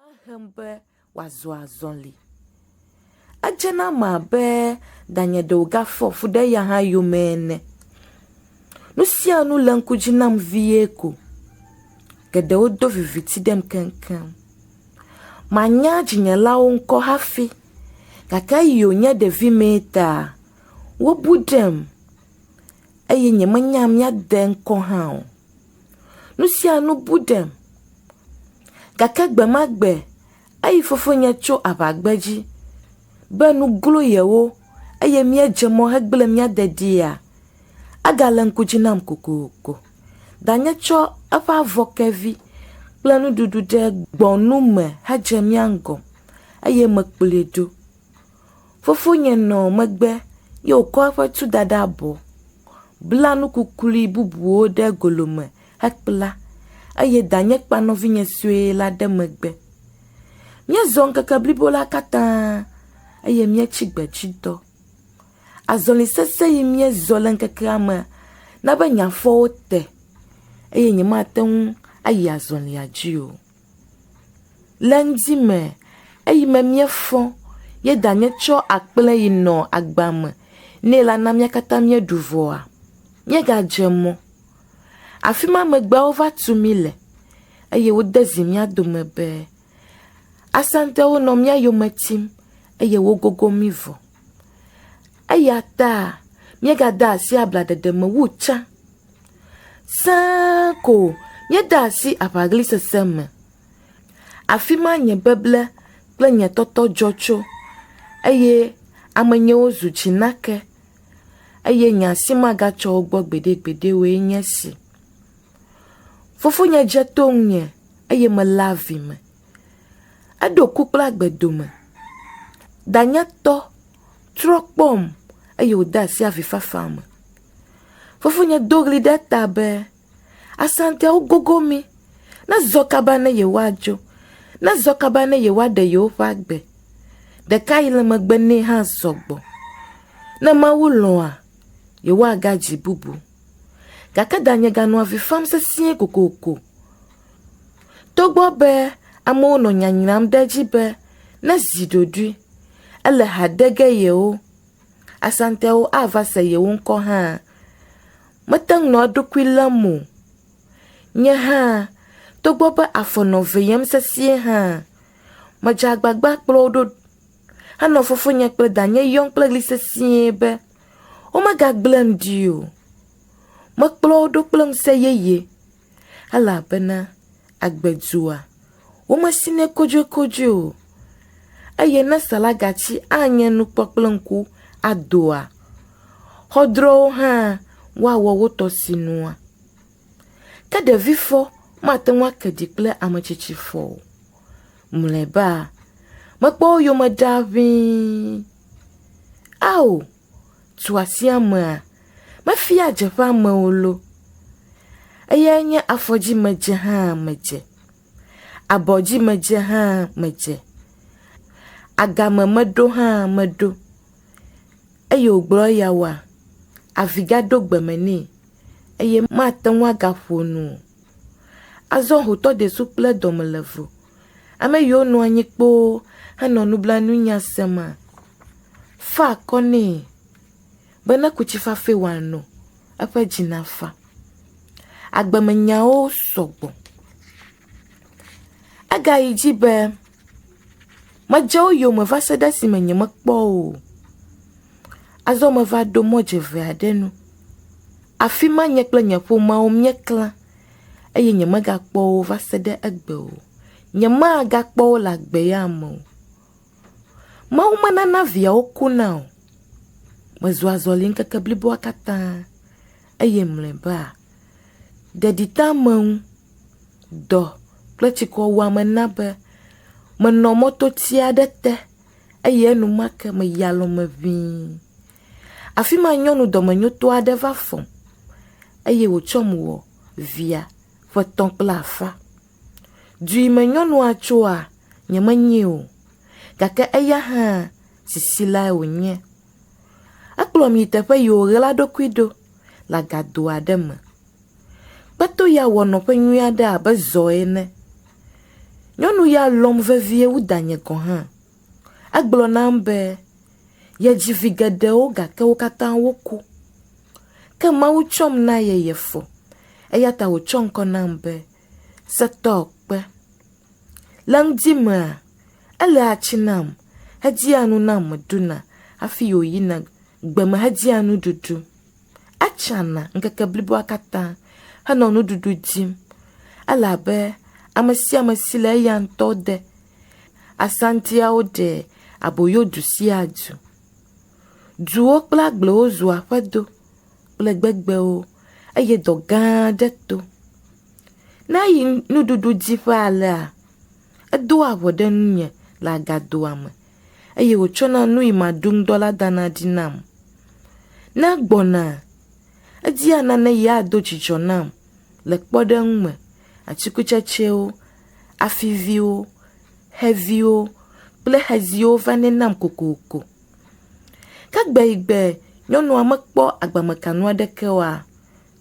Ehem be wòazɔ azɔli. Edze na ame abe danye ɖe wògafɔ fu ɖe eya hã yome ene. Nu sia nu le ŋku dzi nam vie ko. Geɖewo do viviti ɖem keŋkeŋ. Manya dzinyelawo ŋkɔ hafi gake eyi wònye ɖevimee ta wobu ɖem eye nyemenya mía de ŋkɔ hã o. Nusianu bu ɖem gake gbe ma gbe eyi fofonye tso aʋa gbedzi be nu glo yewo eye míedze mɔ hegblẽ mía dedia, egale ŋku dzi nam kokoko. Danye tsɔ eƒe avɔ ke vi kple nuɖuɖu ɖe gbɔnu me hedze mía ŋgɔ eye mekplɔe ɖo. Fofonye nɔ megbe ye wòkɔ eƒe tu da ɖe abɔ, bla nu kuklui bubuwo ɖe golo me hekpla eye danye kpa nɔvinye sue la ɖe megbe. Míezɔ ŋkeke blibo la katã eye míetsi gbedzitɔ. Azɔli sesẽ yi míezɔ le ŋkekea me na be nye afɔwo te eye nyemate ŋu ayi azɔlia dzi o. le ŋdi me, eyi me míefɔ, ye danye tsɔ akple yi nɔ agba me nɛ la na mía katã míeɖu vɔa? Míegadze mɔ. Afi ma megbe wova tu mí le, eye wode zi mía dome be, Asantewo nɔ mía yome tim, eye wogogo mí vɔ. Eya ta míegade asi ablaɖeɖe me wu tsã. Sẽe ko míede asi aʋaɣlisese me. Afi ma nye beble kple nye tɔtɔ dzɔ tso, eye ame nyewo zu tsinake, eye nye asi magatsɔ wo gbɔ gbeɖegbeɖe oe nye esi. Fofonye dze to ŋunye, eye mele avi me. Eɖo ku kple agbe dome. Danyetɔ, trɔ kpɔm, eye wòde asi avifafa me. Fofonye do ɣli ɖe eta be, Asanteawo gogo mí! Nezɔ kaba ne yewoadzo! Nezɔ kaba ne yewoaɖe yewoƒe agbe! Ɖeka yi le megbe nɛ hã zɔ gbɔ. Ne Mawu lɔ̃a, yewoagadzi bubu. Gake danye ganɔ avi fam sesĩe kokoko. Togbɔ be amewo nɔ nya nyram ɖe edzi be ne zi ɖoɖoe, ele ha de ge yewo Asantɛwo ava se yewo ŋkɔ hã. Mete ŋu nɔ eɖokui lém o. Nye hã, togbɔ be afɔ nɔ veyem sesĩe hã, medze agbagba kplɔ wo ɖo henɔ fofonye kple danye yɔm kple ɣli sesĩe be womegagblẽm ɖi o. Mekplɔ wo ɖo kple ŋusẽ yeye elabena agbe dua, womesinɛ kodzoekodzoe o, eye ne salagatsi anye nu kpɔ kple ŋku adoa, xɔdrɔwo hã woawɔ wo tɔ sinua. Ke ɖevifɔ mate ŋu ake ɖi kple ametsitsifɔ o. Mlɔeba, mekpɔ wo yome ɖaa ʋĩi. Ao! tuasiamea mefia dzeƒe amewo lo, eyae nye afɔdzimedze hã medze, abɔdzimedze hã medze, agame meɖo hã meɖo. Eye wògblɔ eya woa, avi gaɖo gbe me nɛ eye mate ŋu agaƒo nu o. Azɔ hotɔdesu kple dɔmelevo. Ame yiwo nɔ anyi kpoo henɔ nublanuinya semea fa akɔ nɛ be neku tsi fafɛ wòano, eƒe dzi nafa. Agbemenyawo sɔ gbɔ. Egayi edzi be, Medze wo yome va se ɖe esime nyemekpɔ wo o. Azɔ meva ɖo mɔdzeve aɖe nu. Afi ma nye kple nye ƒomea míeklã eye nyemegakpɔ wo va se ɖe egbe o. Nyemagakpɔ wo le agbe ya me o. Mawu menana viawo kuna o. Mezu azɔli ŋkeke bliboa katã eye mlɔeba, ɖeɖiteameŋu, dɔ kple tsikɔwuame na be menɔ mɔtoti aɖe te eye enumake meyi alɔ̃me ʋĩi. Afi ma nyɔnu dɔmenyotɔ aɖe va fɔm, eye wòtsɔm wɔ via ƒe tɔ̃ kple afã. Du yi me nyɔnua tsoa, nyemenyee o, gake eya hã sisi lae wònye. Ekplɔm yi teƒe yi wòɣla eɖokui ɖo le agado aɖe me. Kpeto ya wɔ nɔƒe nyui aɖe abe zɔ ene. Nyɔnu ya lɔ̃m vevie wu danye gɔ̃ hã. Egblɔ nam be, Yedzi vi geɖewo gake wo katã woku. Ke Mawu tsɔm na ye yefɔ eya ta wòtsɔ ŋkɔ nam be Setɔkpe. Le ŋdi mea, eléa tsi nam hedzia nu nam meɖuna hafi wòyina gbe me hedzia nuɖuɖu. Etsana ŋkeke bliboa katã henɔ nuɖuɖu dim. Ele abe ame sia ame si le eya ŋutɔ de Asantiawo ɖe aboyo du sia du. Duwo kple agblewo zu aƒedo kple gbegbewo eye dɔ gã aɖe to. Ne eyi nuɖuɖu dzi ƒe alea, edoa ŋɔ ɖe ŋunye le agadoa me eye wòtsɔna nuyi maɖu ŋdɔ la dana ɖi nam. Ne egbɔna, edia nane yeado dzidzɔ nam le kpɔɖeŋu me, atikutsetsewo afiviwo, xeviwo kple xeziwo va nɛ nam kokoko. Ke gbe yi gbe nyɔnua mekpɔ agbamekanu aɖeke oa,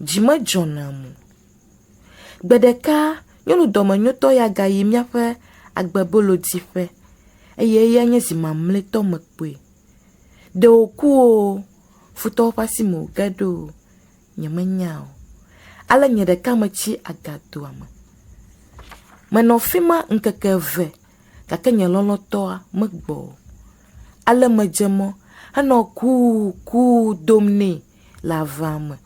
dzi medzɔ nam o. Gbe ɖeka nyɔnu dɔmenyotɔ ya gayi míaƒe agbebolodiƒe eye eyae nye zi mamlɛtɔ mekpɔe. Ɖe wòku o, futɔwo ƒe asi me wòge ɖo o, nyemenya o, ale nye ɖeka metsi agatoa me. Menɔ afi ma ŋkeke eve, gake nye lɔlɔ̃tɔa megbɔ o. Ale medze mɔ henɔ kuu kuu dom nɛ le avea me.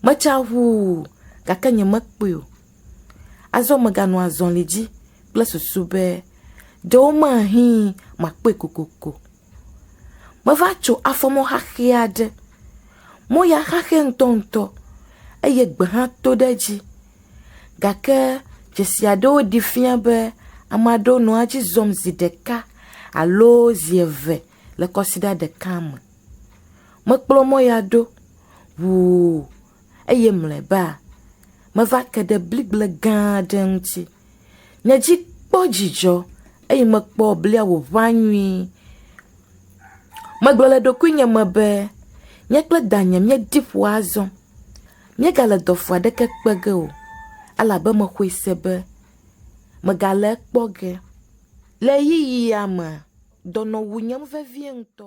Metsa ʋuu, gake nyemekpɔe o. Azɔ meganɔ azɔli dzi kple susu be ɖewomahi makpɔe kokoko Meva tso afɔmɔ xaxɛ aɖe. Mɔ ya xaxɛ ŋutɔŋutɔ eye gbe hã to ɖe edzi gake dzesi aɖewo ɖi fia be ame aɖewo nɔa edzi zɔm zi ɖeka alo zi eve le kɔsiɖa ɖeka me. Mekplɔ mɔ ya ɖo ŋuu eye mlɔeba meva ke ɖe bligble gã aɖe ŋuti. Nye dzi kpɔ dzidzɔ eye mekpɔ blia wòʋã nyui. Megblɔ le ɖokuinye me be, Nye kple danye míeɖi ƒo azɔ. Míegale dɔfu aɖeke kpe ge o elabe mexɔe se be megale ekpɔ ge. Le ɣeyiɣia me, dɔnɔ wu nyem vevie ŋutɔ.